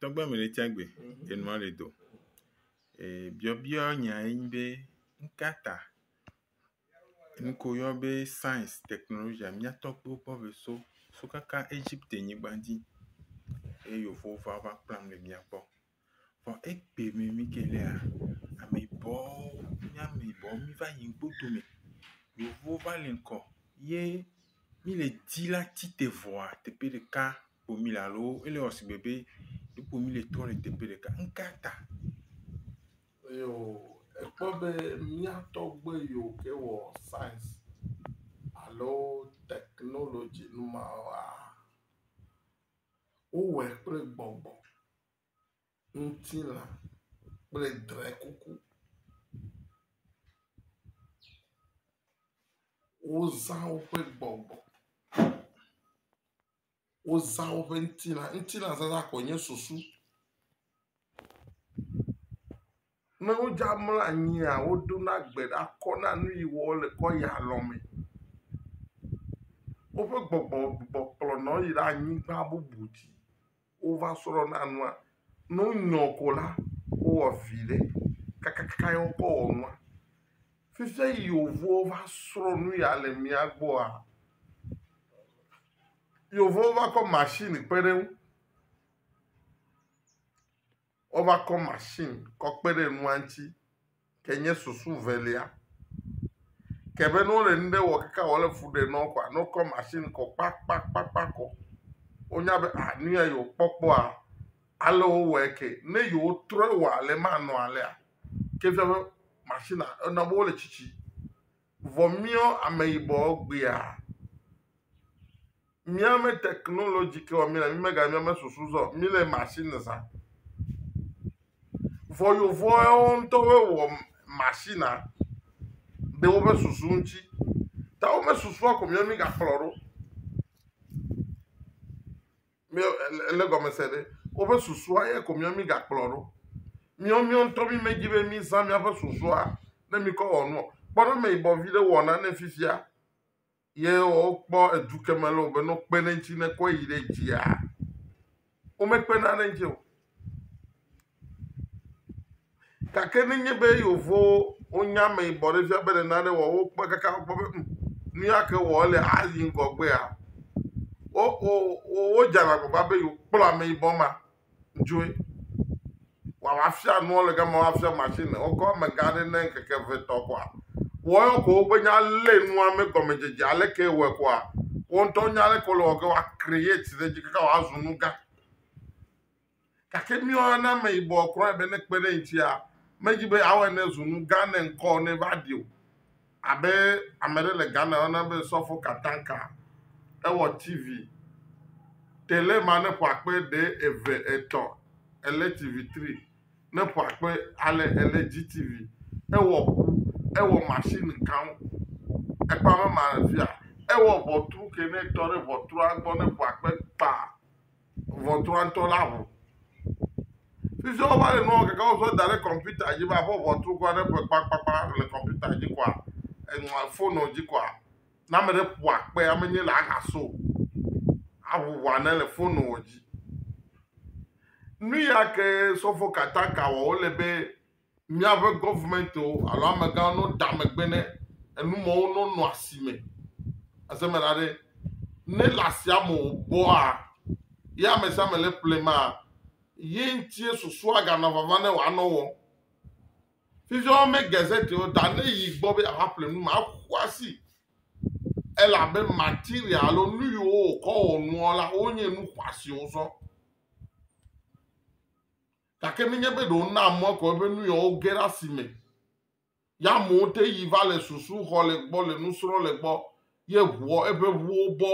Tɔgbe me ɖe tsia gbe enua le do. Ee biɔbiɔ nya ye nyi be nuka ta nuke woyɔ be science technologia mía tɔgbuiwo kpɔ be so so kaka Egipte nyigba dzi eye yevuwo va va kplam le mía gbɔ. Vɔ egbe me mi ke lea ameyibɔwo mía ameyibɔwo mi va yi ŋkpotome. Yevuwo va le ŋkɔ ye mí le di la ti te vɔa teƒe ɖeka ko mí le alo ele wɔ sigbe be ɖeko mí le tɔ le teƒe ɖeka. Nu ka ta? Eo ekpɔ be mía tɔgbe yiwo ke wɔ saɛns alo teknolodzi nu mawoa wowɔe kple gbɔgbɔ. ŋutilã kple drɛkuku. Wozã woƒe gbɔgbɔ. Wozã woƒe ŋutilã. Ŋutilãzazã koe nye susu. Ne wodzra mlɔ anyia, woɖona gbe ɖa kɔna nu yi wɔ wole kɔ yia lɔ me. Woƒe gbɔgbɔ gbugbɔ kplɔna wo yina anyigba bubu dzi wova srɔ̃na nua. Ne wonyɔ ko la, wowɔ viɖe kakaka ye wokɔ wɔ nua. Fifia yevuwo va srɔ̃ nu ya le mía gbɔa, yevuwo va kɔ masini kpe ɖe eŋu. Wova kɔ machine kɔ kpe ɖe nua ŋuti ke nye susu velia. Ke be ne wole nu ɖe wɔ kaka wòle fu ɖe nɔwo kɔa, ne wokɔ machine kɔ kpakpakpakpa kɔ, wonya be a nu ya yewokpɔ kpɔa, ale wowɔe ke. Ne yewotrɔe wɔ ale manɔ alea, ke efia be machine-a, ena be wole tsitsi. Vɔ míɔ ameyibɔ gbea, míame technology ke wɔ mí le, mí mega míame susu zɔ, mí le machine zã. Vɔ yovɔɛwo ŋutɔ wɔ wɔ machine ɖe woƒe susu ŋuti. Ta woƒe susua ko mía mí gakplɔ ɖo. Mí ele gɔme se ɖe woƒe susua ye ko mía mígakplɔ ɖo. Míawo míawo ŋutɔ mí medzi be mízã míaƒe susua ne míkɔ wɔ nu o. Kpɔ ne ame yibɔ vi ɖe wɔ nane fifia ye wokpɔ edu ke me le o be ne wokpe ɖe eŋuti ne kɔe yi ɖe dzia, womekpena ɖe eŋuti o. Gake nenye be yevowo wonye ameyibɔ ɖe fia be ɖe nane wɔ wo kpɔ kaka wokpɔ be um nu ya ke wɔ ele ayi ŋgɔgbea wo wo wodzana agbagba be yewokplɔ ameyibɔ ma dzoe wòafia nua le gama woafia masini wokɔ amegã aɖe ne ŋkeke eve etɔ̃ koa woayɔ ko woƒe nya lé nua me gɔmedzedze aleke wɔe koa wo ŋutɔ nya aleke wole wɔ ge woa create ɖe edzi kaka wòazu nu gã. Gake míewɔna ne ameyibɔ kura be ne kpe ɖe ŋutia, medzi be awɔe ne zu nu gã ne ŋkɔ ne va ɖi o. Abe ame aɖe le Ghana yɔna be Sɔfo Katanka, ewɔ TV, tele ma ne ƒoa kpe ɖe eve, etɔ̃, ele TV tri, ne ƒoa kpe ale ele GTV, ewɔ ŋu, ewɔ machine gãwo. Ekpame ma fia, ewɔ ʋɔtru ke ne tɔ ɖe ʋɔtrua gbɔ ne ƒoa kpe kpaa. ŋɔtrɔatɔ la ŋu. Fi sia wova le nua gagam tsɔ da ɖe kɔmpita dzi be aƒe ŋɔtru kura ne ƒe kpakpakpa le kɔmpita dzi koa, enɔa fonua dzi koa, ne ame ɖe ƒo akpe ame nye la aha so aŋu ŋɔa ne le fonua dzi. Nu ya ke sɔfo Kataka wɔ wole be. Míaƒe gɔvemɛntiwo alo amegãwo no ɖa megbe ne enu mɔwo no nɔ asi me. Ase me la ɖe, ne le asia me o bɔa, ye ame sia ame le ƒle maa, ye ŋutie susua ganɔ vava ne wòanɔ wɔm. Fifia wome gazette o ta ne yi gbɔ be yeava ƒle nu ma, eƒu asi elabe material alo nu yiwo wòkɔ wɔ nua la wonye nu xɔasiwo sɔ. gake nenye be ɖewo na mɔ kɔ eƒe nu yɔ woge ɖe asi me. Ya amewo te yi va le susu xɔ le gbɔ le nusrɔ̃ le gbɔ ye ʋuɔ eƒe ʋuwo bɔ.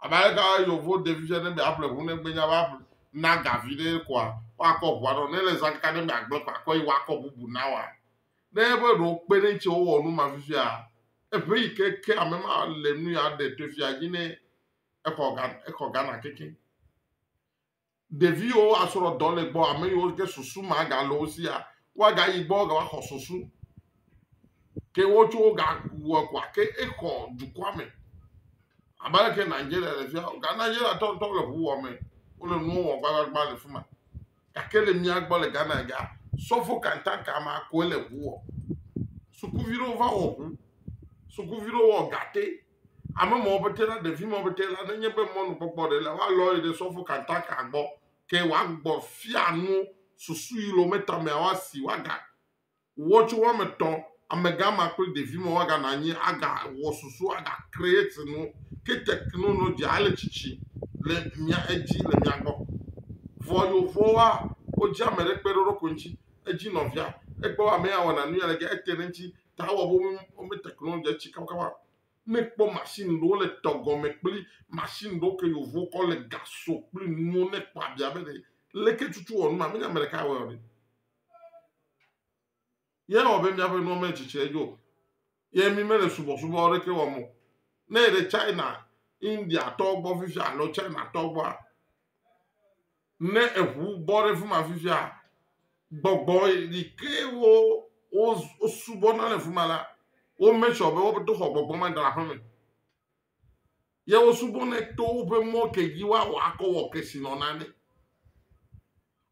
Abe aleke yevu ɖevi fia ne be aƒle ʋu ne gbenya va na gavi ɖe koa woakɔ ʋua ɖɔ ne le zã kaka ne be agble kɔ akɔ yi woakɔ bubu na wa. Ne eƒe ɖewo kpe ɖe ŋuti wowɔ nu ma fifia eƒe yi ke ke ame ma le nu ya ɖe to fia dzi ne exɔ exɔ Ghana keke. Ɖeviwo asrɔ dɔ le gbɔ, ame yiwo ke susu magale wo sia, woagayi gbɔ woaxɔ susu. Ke wotso wogawɔ kɔa ke exɔ dukɔa me. Abe aleke Nigeria le fia, ga Nigeria tɔ ŋutɔ le ŋu wɔ me. Wole nuwo wɔ gbagbagba le fi ma. Gake le mía gbɔ le Ghana ya, sɔfo kantanka ma koe le ŋu wɔ. Sukuvi ɖewo va wɔ ŋu, sukuvi ɖewo wɔ gate. Ame mɔ bete la ɖevi mɔ bete la nenye be mɔnukpɔkpɔ ɖe le wa lɔ ɖe sɔfo kantaka gbɔ ke wa gbɔ fia nu susu yi lo me tame wa si wa ga wɔ tso wa me tɔ ame ga ma kple ɖevi mɔ wa ga na nyi a ga wɔ susu a ga create nu ke technology a le tsitsi le mia edzi le mia gbɔ vɔ yo vɔ wa o dzi ame ɖe kpe ɖoɖo ko ŋtsi edzi nɔvia ekpɔ ame ya wɔ na nu ya le ge ete ɖe ŋtsi ta wɔ be wome technology tsi kabakaba. Ne kpɔ machine ɖewo le tɔ gɔme kple machine ɖewo ke yevuwo kɔ le gasɔ kple nuwo ne kpɔ abia be leke tutu wɔ numa menye ame ɖeka wɔ ɖe. Ye wɔ be míaƒe nuwo metsitsi edzo. Ye mi mele subɔsubɔ ɖeke wɔm o. Ne yi ɖe China, India tɔwo gbɔ fifia alo China tɔwo gbɔa, Ne eŋu bɔ ɖe fi ma fifia, gbɔgbɔ yi ke wo wosubɔna le fi ma la, wo make sure be woɖo xɔ gbɔgbɔ ma da ɖe aƒeme. Ye wosubɔnɛ to woƒe mɔ ke dzi woawɔ akɔ wɔ kesinɔna ɖe.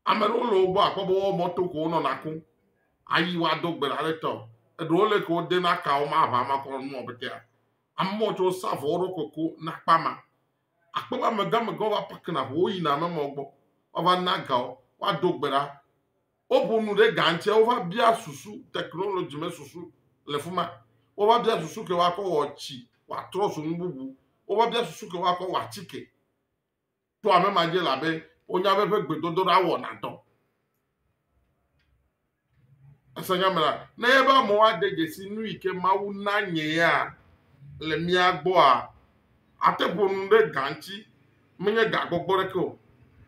Ame aɖewo le wo gbɔ akpɔ be woawo mɔto ko wonɔna kum ayi woado gbe ɖa ɖe tɔ. Eɖewo le ke wodena ka wo ma aʋa ma kɔ nua petea. Amewo tso wosa vɔ wo ɖokui ku na akpa ma. Akpɔ be amegãmegãwo va pakena ʋu, woyina amemawo gbɔ, woava na ga wo, woaɖo gbe ɖa. Woƒo nu ɖe ga ŋuti, wova bia susu, technology me susu le fi ma. Wova bia susu ke woakɔ wɔ tsi wòatrɔ zu nu bubu. Wova bia susu ke woakɔ wɔ atike. To hamema dzi labe wonya be eƒe gbedodoɖa wɔna dɔ. Ese nya me la, ne nye be amewo ade dzesi nu yi ke Mawu na nye ya le mía gbɔa, ate ƒo nu ɖe ga ŋuti. Menye ga gbɔgbɔ ɖeke o.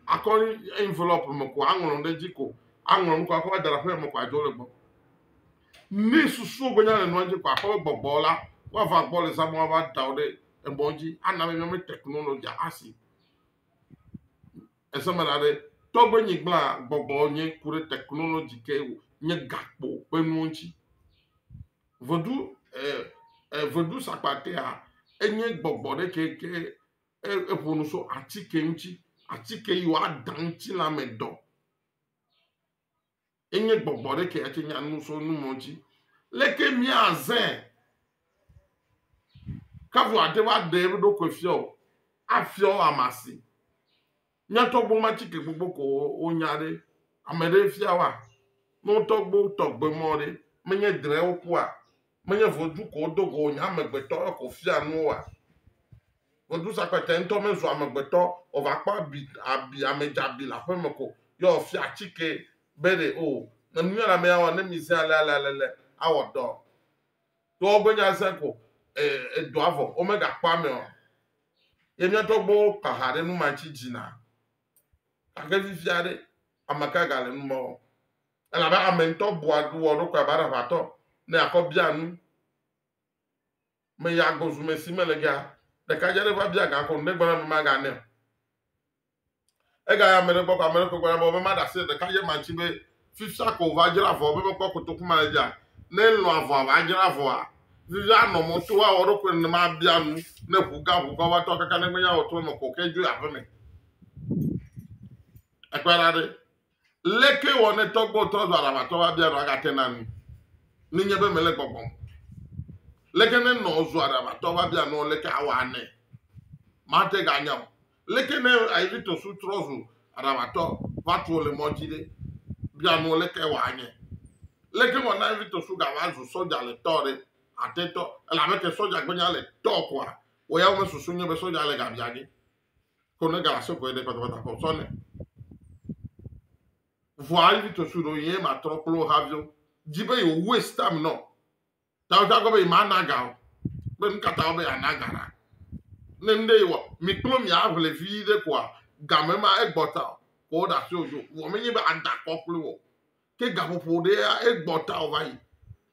Akɔ envelope me ko aŋlɔ nu ɖe dzi ko aŋlɔ nu ko akɔ va da ɖe aƒeme ko adzo le gbɔ. Ne susuwo gbe nya le nua dzi ko akɔ be gbɔgbɔ la woava gbɔ le zã me woava da wo ɖe emɔ dzi ana be míame teknologia asi. Eseme ɖa ɖe, togbɔ nyigblã gbɔgbɔ nye ku ɖe technology ke wo nye gakpo ƒe nuwo ŋuti. Vedu e e vedu sakpatea enye gbɔgbɔ ɖe ke ke e eƒo nu so atike ŋuti. Atike yi wo aɖa ŋutilã me dɔ. Enye gbɔgbɔ ɖe ke atse nya nu so nu mɔ dzi. Leke mi a zɛ kavu ate va ɖe eƒe ɖokui fia o afia o amasi. Mia tɔgbo ma tsi ke gbogbo ko wo nya ɖe ame ɖe fia wa. No tɔgbo tɔgbe mɔ ɖe menye dre wo kua Menye vodzu ko wodo go wònye amegbetɔ eko fia nu woa? Vodzu sakpatɛ ŋutɔ mezu amegbetɔ o, va kpɔ abi, abi, ame dzeabi le aƒe me ko ye wòfia atikee be ɖe o, ne nu ale amee awɔ, ne mi zẽ ale ale ale le, awɔ dɔ. Toa wobe nya zẽ ko e, edɔa vɔ, womegakpɔ ame o. Ye mía tɔgbuiwo kpa ha ɖe nu ma ŋuti dzi na. Gake fifia ɖe, ameka gale nu ma wɔm? Elabe ame ŋutɔ bua wɔ eɖokui abe aɖaʋatɔ ne akɔ bia nu. Meya gbɔ zu me si me le gea, ɖekadze aɖe va bia ga ko nu ɖe gbɔna be maganɛ o. Egaya ame ɖe gbɔ ko ame ɖe ko gbɔna be be maɖe asi ɖekadze ma ŋuti be fifia ko va dzra avɔ be mekpɔ kotoku ma le dzia. Ne elɔ̃ avɔa va dzra avɔa, fifia anɔ mɔ to awɔ eɖokui nenema abia nu ne ʋu gã ʋu gã va tɔ kaka ne menye awɔtrɔme ko ke dzoe aƒeme. Ekpɔe ɖa ɖe, Leke wɔ ne tɔgbuiwo trɔ zu alavatɔ va bia nɔ agate na nu ne nye be mele gbɔgbɔm? Leke ne nɔ zu alavatɔ va bia nɔ leke awɔ anɛ? Mate ga anya o. Leke ne Aigipto su trɔ zu alavatɔ va tuo le mɔ dzi ɖe? Bia nɔ leke wɔ anye. Leke wɔ na Aigipto su ga va zu sɔdja le tɔ ɖe? Ate tɔ elabe ke sɔdja gbe nya le tɔ koa wɔ ya wo me susu nye be sɔdja le ga bia ge. ko ne ga so ko ne kpata kpata ko so ne vua ali to su do ye ma tro klo ha vio di be yo waste time no ta ta go be ma na ga o be nka ta be ana ga na ne nde yo mi klo mi avle vi de ko ga me ma egbota ko da so jo wo me ni be ada ko klo wo Ke gaƒoƒo ɖea egbɔ ta wòva yi.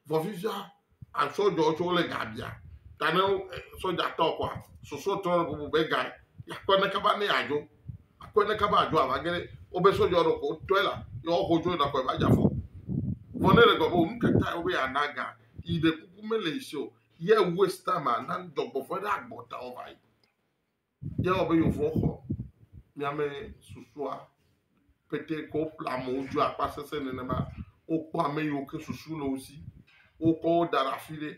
Vɔ fifia asɔdzɔ tsɛ wole ga bia. Ta ne sɔdza tɔ kɔa, susɔ trɔ ɖe ƒoƒo be ga akpɔ ne kaba ne yeadzo. Akpɔ ne kaba adzo ava ge ɖe wobe sɔdza ɖe ko tɔe la ye woaxɔ dzo yina kɔe va dze afɔ. Vɔ ne ele gblɔ be nu ka tae wobe yeana ga yi ɖe kuku mele yi si o, ye waste time-a, na dɔgbɔfɔ̃e ɖe agbɔ ta wòva yi. Ye wɔ be yewo vɔ xɔ miame susua pete ke woƒle amewo dzo akpa sese nenema. Wokpɔ ame yiwo ke susu le wo si. Wokɔ wo da ɖe afi ɖe.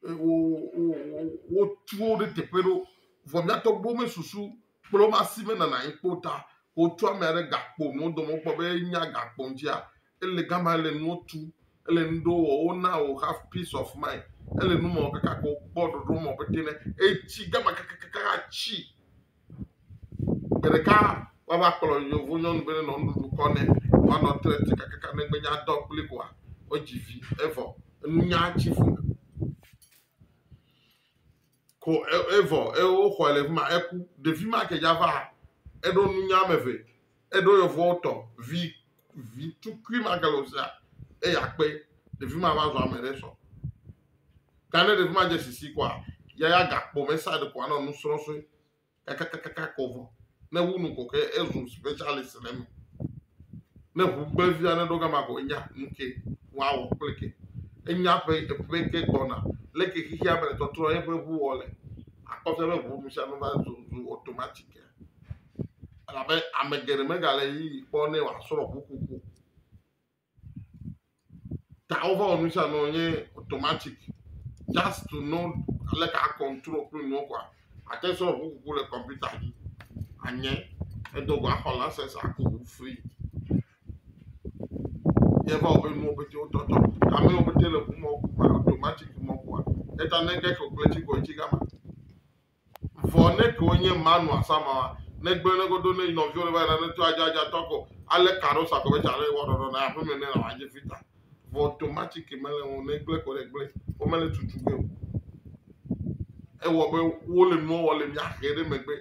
Eye wo wo wo wotu wo ɖe teƒe ɖewo. Vɔ mía tɔgbuiwo mesusu kple woƒe asi menana anyi kpɔ o ta wotu amea ɖe gakpo nu wodome wokpɔ be enya gakpo ŋutia Ele gama, ele nuwo tu, ele nu ɖewo wɔ, wona wò have peace of mind. Ele nu mɔ kaka ko kpɔ ɖoɖo mɔ be tene etsi gama kakakaka atsi. Gbe ɖeka wava kplɔ yevu nyɔnu be nenɔ nuɖuɖu kɔ nɛ woanɔ tre te kakaka negbe nya dɔ kpli koa wodzi vi evɔ enunya tsi fu. Ko evɔ eye woxɔe le fima eku. Ɖevi ma ke dza va eɖo nunya ame eve eɖo yevuwo tɔ vi vi tukui ma ke le osia eye akpe ɖevi ma va zɔ ame ɖe sɔ. Gane ɖevi ma dze sisi kɔa yaya gakpo me sa ɖe kɔa nɔ nusrɔsɔe kakakaka kɔ vɔ ne wu nu kɔkɔe ezu specialist le eme ne ʋu gblẽvi aɖe ɖo gama ko enya nuke woawɔ kple ke enya ƒe eƒe ke gbɔna le ke xexia me le tɔtrɔ eƒe ʋu wɔ le akpɔfia be ʋu nu sia nu va zu zu automatic elabe ame geɖe megale yi kpɔ ne wòasrɔ̃ ʋukuku Ta wova wɔ nu sia nu nye automatic just to know aleke a control kple nuwo kɔa ate sɔ ʋu kuku le kɔmputa dzi anye edo go axɔ license aku ʋu free yeva wɔ be nuwo pete wotɔ tɔ ame wo pete le ʋu mɔ ku automatic mɔ kua eta ne ke calculating kɔ etsi gama. Vɔ neke wonye Manoa Samawa ne gblɔe ne godo ne nɔviwo le va na ne to aja aja tɔko ale karo sa gɔbɛ tsa le wɔ ɖɔɖɔ na aƒe me ne la waje fita vɔ tomatsi ke mele ŋu ne gble ko ɖe gble wo mele tutu gbe o ewɔ be wo le nuɔ wɔ le mia xe ɖe megbe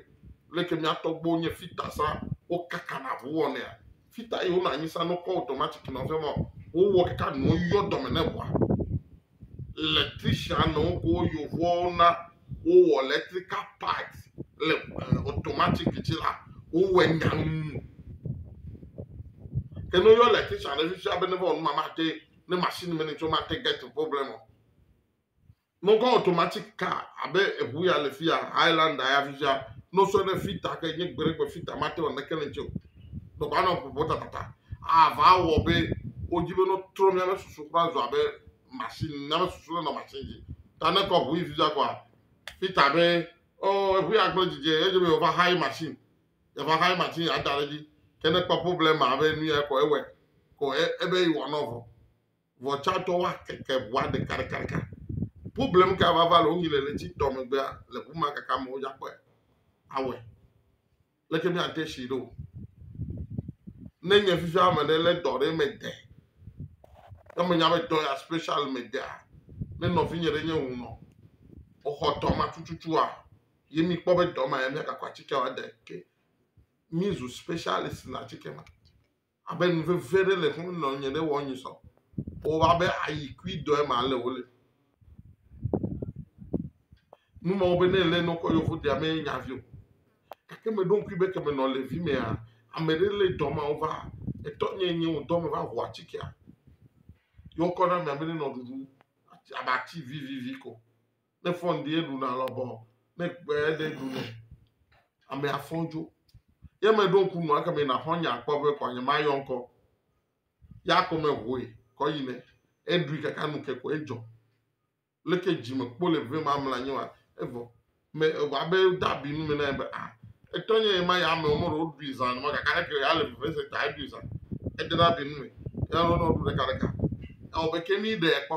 leke mia tɔgbo nye fita sa wo kaka na ʋu wɔnea Fita yi wonɔ anyi sa no kɔ automatic nɔ fɛ mɔ wowɔ kaka nuwo yɔ dɔme ne ʋua. Electrician nɔ woko yovowo na wowɔ electrical part le eh, automatic ci la wowɔe nyaŋu. Ke ne woyɔ electrician ɖe fifia be ne va wɔ numa ma te ne machine me ne tso ma te get problem o. Nɔkɔ automatic car abe eʋu ya le fiya Highlander ya fifia nɔsɔ ɖe fita ke nye gbe ɖe gbe fita mate wɔ neke ne ŋtsɛ o. Nɔkɔ anɔ ƒoƒo tatata ava wɔ be wodzi be nɔtrɔ miabe susu kura zɔ abe machine miabe susu le nɔ machine dzi. Ta ne kɔ ʋu yi fifia kɔa fita be ɔ eʋu ya gble dzidzɛ edze be wova hayi machine yava hayi machine ada ɖe dzi ke ne kpɔ problem abe nu ya kɔ ewɔe ko ebe yi wɔ nɔ vɔ. Vɔ tsã tɔ wa keke ʋua ɖeka ɖeka ɖeka. Problem ka vava le wonyi le le tsi tɔ megbea le ʋu ma kaka me wodza kpɔe. Awɔe. Leke mi ate shi ɖo. Ne nye fifi ame ɖe le dɔ ɖe me de. Ne me nya be dɔ ya special me dea. Ne nɔvi nye ɖe nye ŋu nɔ. Oxɔ dɔ ma tututua. Ye mi kpɔ be dɔ ma ya mi agakɔ atike wa de ke. Mi zu specialist le atike ma. Abe nu vevi aɖe le xlɔ̃m nɔ nye ɖe wɔ nyusɔ. Wòwɔ abe ayi kui dɔe ma le wo le. Nu mawo be ne le nɔkɔ yevu dea me nya vi o. Gake me ɖo ŋkui be ke me nɔ le vi mea, ame ɖe le dɔ mawo va. Etɔ nye nye wò dɔ me va ʋu atikea. Yɔ kɔ na mea be ne nɔ ɖuɖu abe ati vivivi ko. ne fɔn die ɖuna lɔbɔ ne kpe ɖe ɖu ne ame afɔn dzo ye me ɖo ŋku nua keme na xɔ nya kpɔ be kɔ nye ma yɔ ŋkɔ ya kɔ me hoe kɔ yi ne eɖui kaka nu ke kɔ edzɔ leke dzime kpo le vɛ ma mla nye wa evɔ me evɔ abe dabi nu me na ye be a ah, etɔ nye ye ma ya ame wɔmɔ ɖewo ɖui zan ma kaka ne ke ya le vɛ se ta eɖui zan edena bi nu me ya lɔ nɔ ɖu ɖeka ɖeka ewɔ be ke mi ɖe kpɔ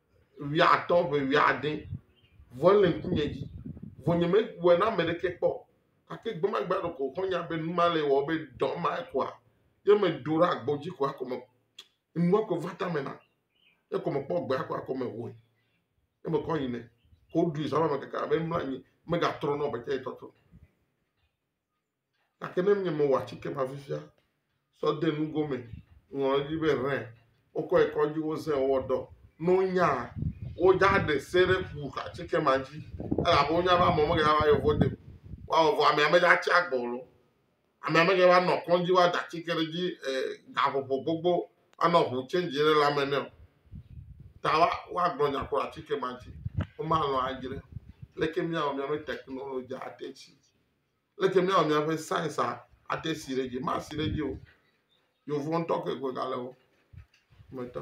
wuiatɔ̃ ƒe wuiade, vɔ ele ŋkunye dzi, vɔ nyemewɔe na ame ɖeke kpɔ o. Gake gbe ma gbe aɖe ko xɔ̃nye be nu ma le ewɔm be dɔ ma koa, ye meɖo ɖe agbo dzi ko hafi me, nua ko va tame nam. Ye ko mekpɔ gbea ko hafi mehoe. Ye mekɔ yi nɛ. Ko woɖui zã va me keke abe mlɔ anyi, megatrɔ na wò be tsã ye tɔtrɔ. Gake ne nye mewɔ atike ma fifia sɔ de nugo me, ŋlɔ ɖe edzi be ʋɛ, wokɔ yi kɔdzi, wozẽ, wowɔ dɔ, ne wonya, wodza ɖe se ɖe ku atike ma dzi, elabe wonya be amewo megava va yewo vɔ de o. Woawɔ vɔ amea medza tsi agbe o loo, amea megava nɔ kɔdzi woada atike ɖe edzi e gaƒoƒo gbogbo anɔ ŋu tsɛnzi ɖe lãme nɛ o. Ta wa woagblɔ nya ku atike ma dzi. Womalɔ̃ adzre. Leke míawɔ mía be teknolodzia ate tsi? Leke míawɔ míaƒe science ate si ɖe dzi? Masi ɖe dzi o. Yevu ŋutɔ koe gale wo me tɔ.